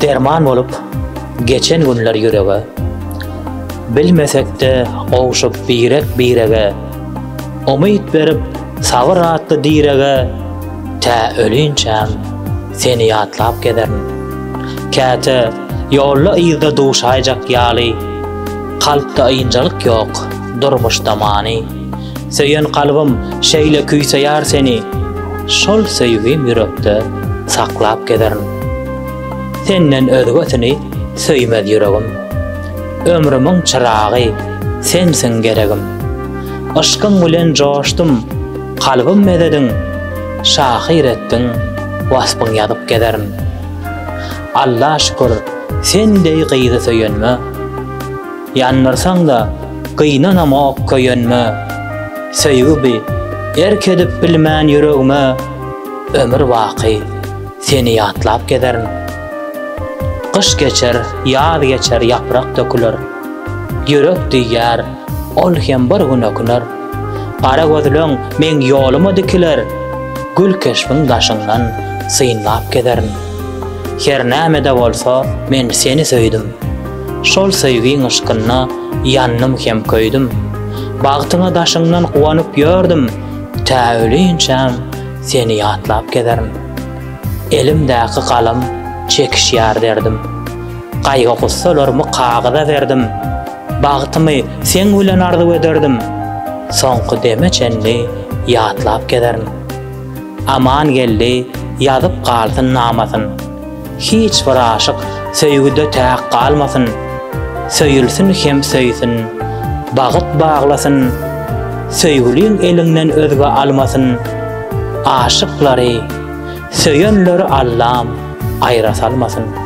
Derman bolup geçen günler ýürege Bilmesekde gowşup birek birege Umyt berip sabyr atly direge Tä ölünçäm seni ýatlap gezerin Käte ýolda yzda duşaýjak ýaly Kalpda ýynjalyk ýok Durmuş tamany Söýen kalbym şeýle küýseýär seni Şol söýgim ýürekde saklap gezerin Senden özgesini söýmez ýüregim Ömrümiň çyragy sensiň geregim Yşkyň bilen joşdum kalbym mezedin Şahyr etdiň waspyň ýazyp gezerin Alla şükür sen deý gyzy söýenme Ýandyrsaň-da, gynanamok köýenme, Söýgi bi, erk edip bilmän ýüregime, Ömür baky, seni ýatlap gezerin. Gyş geçer, ýaz geçer, ýaprak döküler, Ýürek diýýär, ol hem bir gün öküner. Gara gözleň meň ýoluma dikiler, Gül keşbiň daşyndan synlap gezerin. Her näme-de bolsa, men seni söýdüm. Şol söýgiň yşkynda ýandym hem köýdüm. Bagtyma daşyňdan guwanyp ýördüm, tä ölinçäm seni ýatlap gezerin. Elimdäki galam çekişýär derdim. Gaýgy-gussalarymy kagyza berdim. Bagtymy seň bilen arzuw ederdim. Soňky deme çenli ýatlap gezerin. Amangeldi ýazyp galsyn namasyn. Hiç bir aşyk söýgüde täk galmasyn, Söýülsin hem söýsün, bagyt baglasyn, Söýgüliň eliňden özge almasyn, Aşyklary, söýenleri Allam aýra salmasyn.